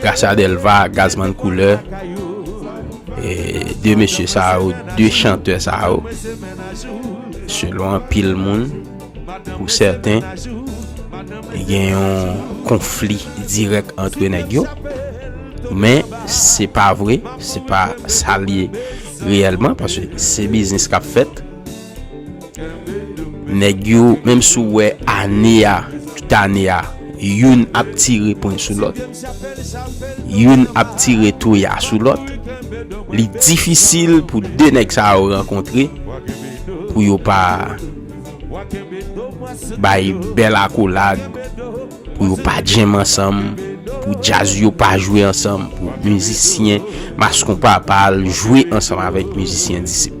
Gracia Delva, Gazzman Couleur, e 2 mesye sa yo, 2 chantè sa yo, selon anpil moun, pou sèten, gen yon konfli dirèk antre nèg yo, men, se pa vre, se pa sa li reyèlman, paske se biznis kap fèt, Nèg yo menm si w wè ane a, tout ane a, youn ap tire pwen sou lòt, youn ap tire toya sou lòt, li difisil pou 2 nèg sa yo rankontre pou yo pa bay bèl akolad, pou yo pa djèm ansanm, pou djaz yo pa jwe ansanm, pou mizisyen mas konpa pa al jwe ansanm avèk mizisyen disip.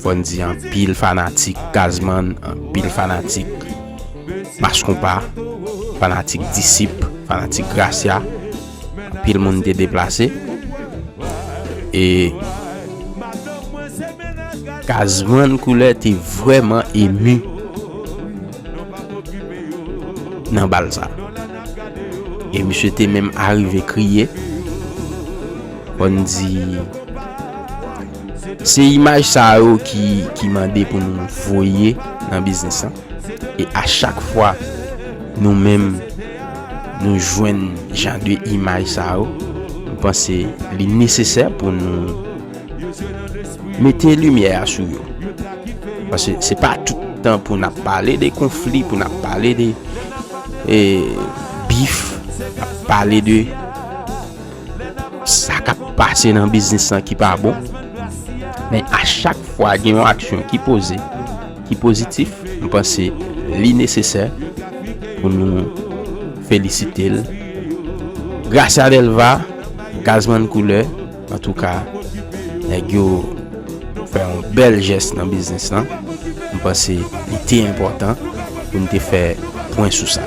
Fòn di anpil fanatik Gazman, anpil fanatik Mass Konpa, fanatik Disip, fanatik Gracia, anpil moun te deplase. E Gazman Koulè te vrèman emu nan bal sa. E misye te menm arive kriye. Fòn di. Se imaj sa yo ki mande pou nou voye nan biznis lan. E a chak fwa nou menm nou jwenn jan de imaj sa yo, nou panse li nesesè pou nou mete limyè a sou yo. Pase se pa tout tan pou nou ap pale de konfli, pou nou ap pale de bif, ap pale de... sa kap pase nan biznis lan ki pa bon men a chak fwa gen yon aksyon ki poze ki pozitif m panse li nesesè pou nou felisite l Gracia Delva Gazman Koule an tou ka nèg yo fè yon bèl jès nan biznis lan m panse li te enpòtan pou nou te fè pwen sou sa.